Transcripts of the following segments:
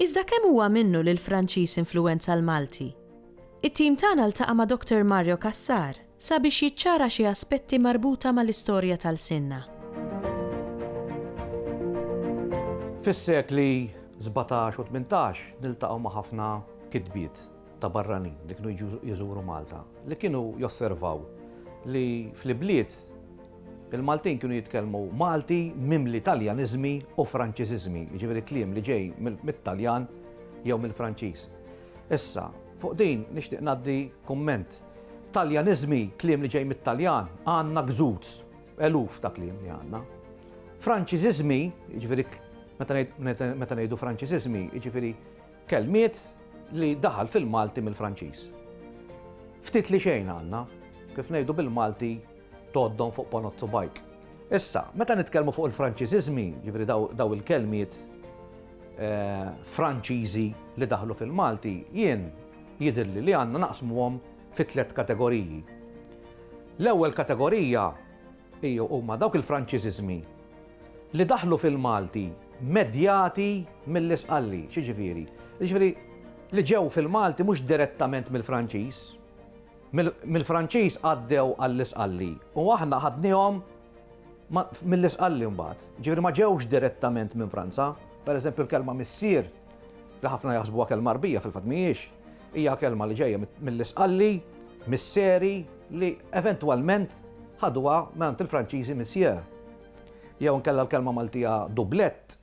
Iżda kemm huwa minnu li l-Franċiż influwenza l-Malti? It-tim tagħna ltaqa' ma' Dr. Mario Cassar sabiex jiċċara xi aspetti marbuta mal-istorja ta' lsienna. Fis-sekli sbatax u tmintax niltaqgħu ma' ħafna kitbiet ta' barranin li kienu jiġu jżuru Malta li kienu josservaw li fl-ibliet Il-Maltin kienu jitkellmu Malti mimli Taljaniżmi u Franċiżiżmi, jiġifieri kliem li ġej mit-Taljan jew mill-Franċiż. Issa, fuq din nixtieq ngħaddi kumment. Taljaniżmi, kliem li ġej mit-Taljan, għandna gzuz, eluf ta' kliem li għandna. Franċiżiżmi, jiġifieri meta ngħidu Franċiżiżmi, jiġifieri kelmiet li daħal fil-Malti mill-Franċiż. Ftit li xejn għandna, kif ngħidu bil-Malti, tgħoddhom fuq ponot subgħajk. Issa, meta nitkellmu fuq il-Franċiżiżmi, jiġifieri dawn il-kelmiet Franċiżi li daħlu fil-Malti, jien jidhirli li għandna naqsmuhom fi tliet kategoriji. L-ewwel kategorija huma dawk il-Franċiżiżmi li daħlu fil-Malti medjati mill-Isqalli. X'jiġifieri? Jiġifieri li ġew fil-Malti mhux direttament mill-Franċiż, Mill-Franċiż għaddew għall-Isqalli u aħna ħadniehom mill-Isqalli mbagħad. Jiġifieri ma ġewx direttament minn Franza. Per eżempju l-kelma missier, li ħafna jaħsbuha kelma Għarbija fil-fatt mhijiex, hija kelma li ġejja mill-Isqalli, misseri, li eventwalment ħaduha mingħand il-Franċiżi monsieur. Jew inkella l-kelma Maltija dublett,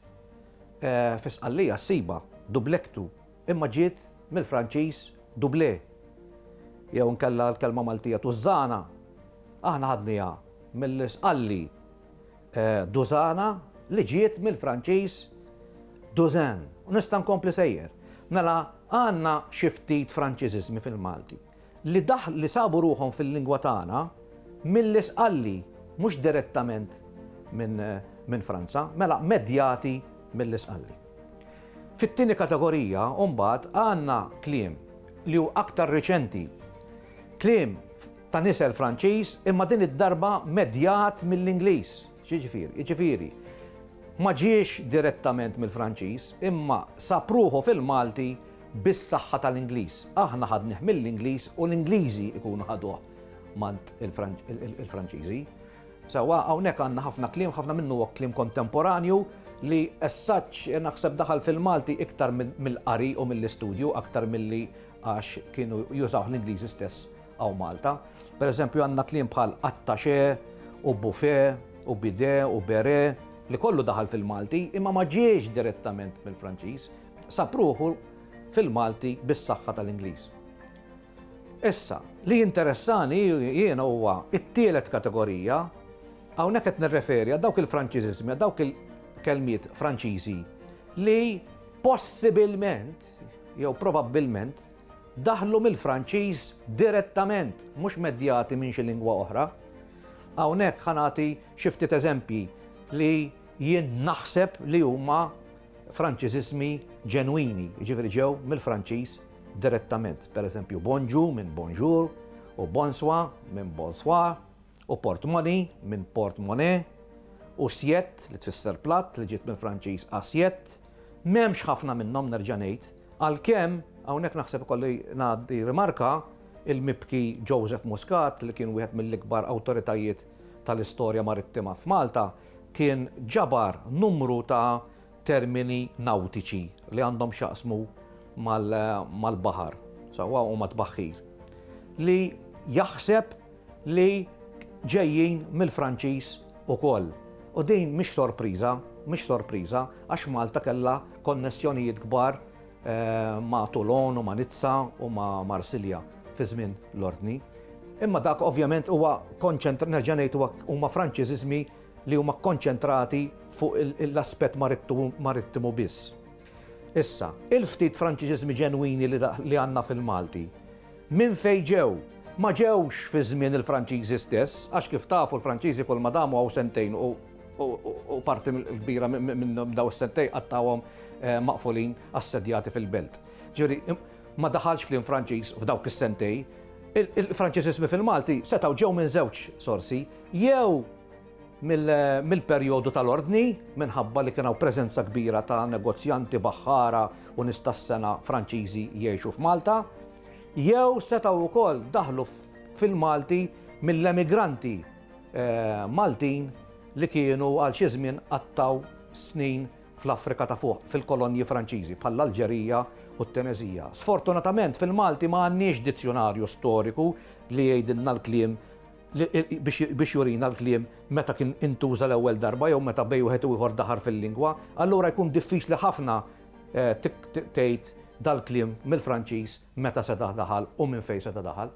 fi Sqallija ssibha, dublectu. imma ġiet mill-Franċiż doublé, jew inkella l-kelma Maltija tużżana, aħna ħadniha mill-Isqalli dużana li ġiet mill-Franċiż douzaine, u nista' nkompli sejjer. Mela għandna xi ftit Franċiżiżmi fil-Malti. li daħlu li sabu ruħhom fil-lingwa tagħna milli sqalli, mhux direttament minn Franza, mela medjati milli sqalli. Fit-tieni kategorija mbagħad għandna kliem li hu aktar riċenti, kliem ta' nisel Franċiż imma din id-darba medjat mill-Ingliż. X'jiġifieri? Jiġifieri, ma ġiex direttament mill-Franċiż, imma sab ruħu fil-Malti bis-saħħa tal-Ingliż. Aħna ħadnih mill-Ingliż u l-Ingliżi jkunu ħaduh m'għand il-Franċiżi. Sewwa, hawnhekk għandna ħafna kliem, ħafna minnu huwa kliem kontemporanju li as such naħseb daħal fil-Malti iktar mill-qari u mill-istudju aktar milli għax kienu jużawh l-Ingliżi stess Hawn Malta, pereżempju, għandna kliem bħal attaché u buffet u bidet u béret li kollu daħal fil-Malti imma ma ġiex direttament mill-Franċiż, sab ruħu fil-Malti bis-saħħa tal-Ingliż. Issa, li jinteressani jiena huwa t-tielet kategorija, hawnhekk qed nirreferi għal dawk il-Franċiżiżmi, għal dawk il-kelmiet Franċiżi li possibilment jew probabbilment daħlu mill-Franċiż direttament, mhux medjati minn xi lingwa oħra. Hawnhekk ħa nagħti xi ftit eżempji li jien naħseb li huma Franċiżiżmi ġenwini, jiġifieri ġew mill-Franċiż direttament. Pereżempju, bonġu minn bonjour u bonswa minn bonsoir, u portmoney minn porte monnaie u siette li tfisser platt li ġiet mill-Franċiż assiette, m'hemmx ħafna minnhom nerġa' ngħid, għalkemm hawnhekk naħseb ikolli ngħaddi rimarka il-mibki Joseph Muscat li kien wieħed mill-ikbar awtoritajiet tal-istorja marittima f'Malta kien ġabar numru ta' termini nawtiċi li għandhom x'jaqsmu mal-baħar, sewwa huma tbaħħir, li jaħseb li ġejjin mill-Franċiż ukoll. U din mhix sorpriża, mhix sorpriża, għax Malta kellha konnessjonijiet kbar ma' Toulon u ma' Nizza u ma' Marsilja fi żmien l-Ordni. Imma dak ovvjament huwa konċentra, nerġa' ngħid, huma Franċiżiżmi li huma kkonċentrati fuq l-aspett marittimu biss. Issa, il-ftit Franċiżiżmi ġenwini li għandna fil-Malti, minn fejn ġew? Ma ġewx fi żmien il-Franċiżi stess, għax kif tafu l-Franċiżi kull ma damu hawn sentejn u parti kbira minn dawn is-sentejn qattgħuhom maqfulin assedjati fil-belt. Ġifieri, ma daħalx kliem Franċiż f'dawk is-sentejn. Il-Franċiżiżmi fil-Malti setgħu ġew minn żewġ sorsi, jew mill-perjodu tal-Ordni, minħabba li kien hawn preżenza kbira ta' negozjanti, baħħara u nies tas-sengħa Franċiżi jgħixu f'Malta, jew setgħu wkoll daħlu fil-Malti mill-emigranti Maltin li kienu għal xi żmien qattgħu snin fl-Afrika ta' Fuq, fil-kolonji Franċiżi, bħall-Alġerija u t-Tuneżija. Sfortunatament fil-Malti ma għandniex dizzjunarju storiku li jgħidilna l-kliem biex jurina l-kliem meta kien intuża l-ewwel darba jew meta bejn wieħed u ieħor daħal fil-lingwa, allura jkun diffiċli ħafna tgħid dal-kliem mill-Franċiż meta seta' daħal u minn fejn seta' daħal.